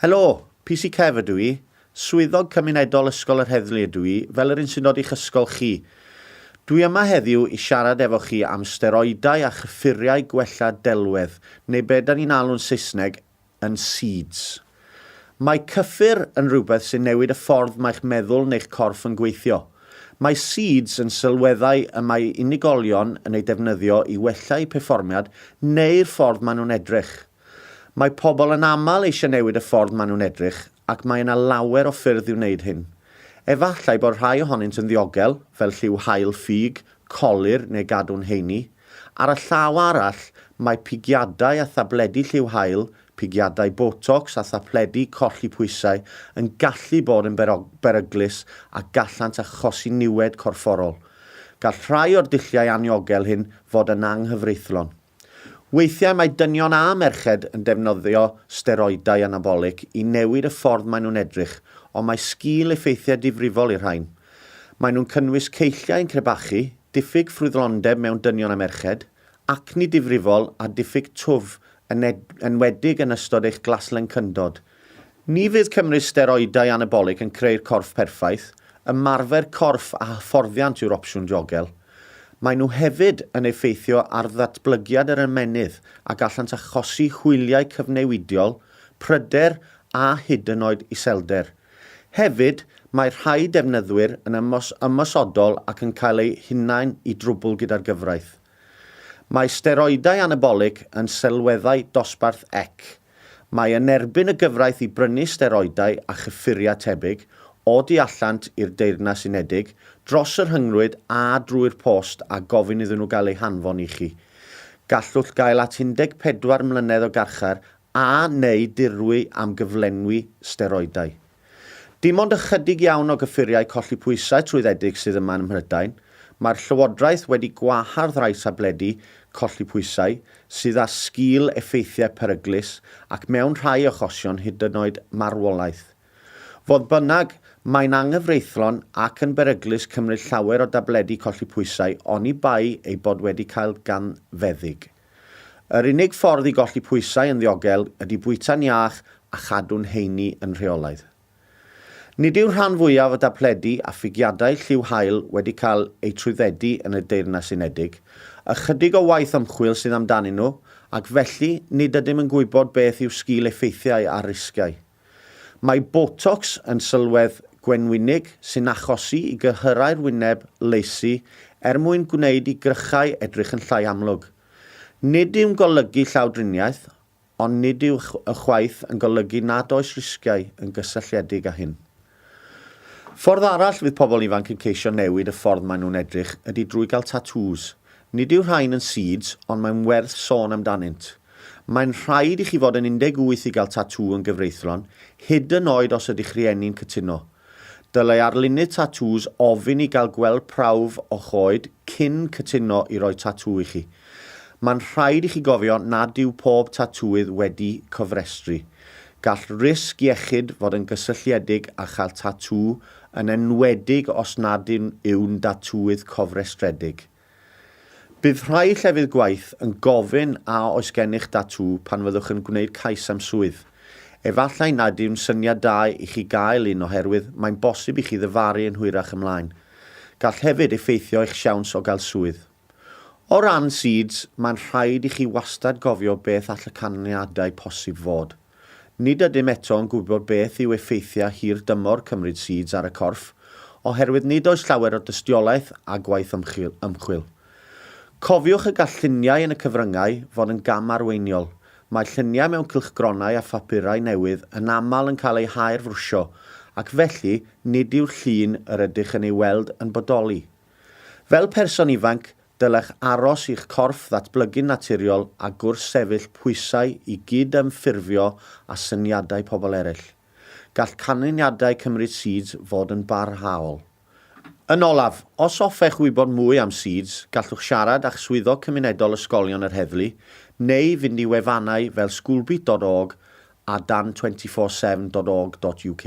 Helo, PC Kev ydw i. Swyddog Cymunedol Ysgol yr Heddlu ydw i, fel yr un sy'n dod i'ch ysgol chi. Dwi yma heddiw i siarad efo chi am steroidau a chyffuriau gwella delwedd, neu be da ni'n alw'n Saesneg, yn Seeds. Mae cyffur yn rhywbeth sy'n newid y ffordd mae'ch meddwl neu'ch corff yn gweithio. Mae Seeds yn sylweddau y mae unigolion yn eu defnyddio i wella'u perfformiad neu'r ffordd maen nhw'n edrych. Mae pobl yn aml eisiau newid y ffordd maen nhw'n edrych ac mae yna lawer o ffyrdd i wneud hyn. Efallai bod rhai ohonynt yn ddiogel, fel lliw haul ffug, colur neu gadw'n heini. Ar y llaw arall, mae pigiadau a thabledi lliw haul, pigiadau Botox a thabledi colli pwysau yn gallu bod yn beryglus a gallant achosi niwed corfforol. Gall rhai o'r dulliau anniogel hyn fod yn anghyfreithlon. Weithiau mae dynion a merched yn defnyddio steroidau anabolig i newid y ffordd maen nhw'n edrych, ond mae sgil effeithiau difrifol i'r rhain. Maen nhw'n cynnwys ceilliau yn crebachu, diffyg ffrwythlondeb mewn dynion a merched, acni difrifol a diffyg twf, yn enwedig yn ystod eich glaslencyndod. Ni fydd cymryd steroidau anabolig yn creu'r corff perffaith, ymarfer corff a hyfforddiant yw'r opsiwn diogel. Maen nhw hefyd yn effeithio ar ddatblygiad yr ymennydd a gallant achosi hwyliau cyfnewidiol, pryder a hyd yn oed iselder. Hefyd, mae rhai defnyddwyr yn ymosodol ac yn cael eu hunain i drwbl gyda'r gyfraith. Mae steroidau anabolig yn sylweddau dosbarth ec. Mae yn erbyn y gyfraith i brynu steroidau a chyffuriau tebyg, o du allant i'r Deyrnas Unedig, dros y rhyngrwyd a drwy'r post a gofyn iddyn nhw gael eu hanfon i chi. Gallwch gael at 14 mlynedd o garchar a neu dirwy am gyflenwi steroidau. Dim ond ychydig iawn o gyffuriau colli pwysau trwyddedig sydd yma ym Mhrydain. Mae'r Llywodraeth wedi gwahardd rhai tabledi colli pwysau sydd â sgil effeithiau peryglus ac mewn rhai achosion hyd yn oed marwolaeth. Fodd bynnag, mae'n anghyfreithlon ac yn beryglus cymryd llawer o dabledi colli pwysau oni bai eu bod wedi cael gan feddyg. Yr unig ffordd i golli pwysau yn ddiogel ydy bwyta'n iach a chadw'n heini yn rheolaidd. Nid yw'r rhan fwyaf o dabledi a phigiadau lliw haul wedi cael eu trwyddedu yn y Deyrnas Unedig, ychydig o waith ymchwil sydd amdanyn nhw, ac felly nid ydym yn gwybod beth yw sgil effeithiau a risgiau. Mae Botox yn sylwedd gwenwynig sy'n achosi i gyhyrau'r wyneb lacy er mwyn gwneud i grychau edrych yn llai amlwg. Nid yw'n golygu llawdriniaeth, ond nid yw ychwaith yn golygu nad oes risgiau yn gysylltiedig â hyn. Ffordd arall fydd pobl ifanc yn ceisio newid y ffordd maen nhw'n edrych ydy drwy gael tatŵs. Nid yw rhain yn seeds, ond mae'n werth sôn amdanynt. Mae'n rhaid i chi fod yn 18 i gael tatŵ yn gyfreithlon, hyd yn oed os ydy'ch rhieni'n cytuno. Dylai arlunydd tatŵs ofyn i gael gweld prawf o'ch oed cyn cytuno i roi tatŵ i chi. Mae'n rhaid i chi gofio nad yw pob tatŵydd wedi cofrestru. Gall risg iechyd fod yn gysylltiedig â chael tatŵ, yn enwedig os nad yw'n ddatŵydd cofrestredig. Bydd rhai llefydd gwaith yn gofyn a oes gennych ddatŵ pan fyddwch yn gwneud cais am swydd. Efallai nad yw'n syniad da i chi gael un oherwydd mae'n bosib i chi ddyfaru yn hwyrach ymlaen. Gall hefyd effeithio eich siawns o gael swydd. O ran seeds, mae'n rhaid i chi wastad gofio beth all y canlyniadau posib fod. Nid ydym eto yn gwybod beth yw effeithiau hir dymor cymryd seeds ar y corff, oherwydd nid oes llawer o dystiolaeth a gwaith ymchwil. Cofiwch y gall lluniau yn y cyfryngau fod yn gam arweiniol. Mae lluniau mewn cylchgronau a phapurau newydd yn aml yn cael eu haerfrwsio, ac felly nid yw'r llun yr ydych yn ei weld yn bodoli. Fel person ifanc, dylech aros i'ch corff ddatblygu'n naturiol a gwrthsefyll pwysau i gyd-ymffurfio â syniadau pobl eraill. Gall canlyniadau cymryd SEEDS fod yn barhaol. Yn olaf, os hoffech wybod mwy am SEEDS, gallwch siarad â'ch Swyddog Cymunedol Ysgolion yr Heddlu neu fynd i wefannau fel schoolbeat dot org a dan24seven dot org dot uk.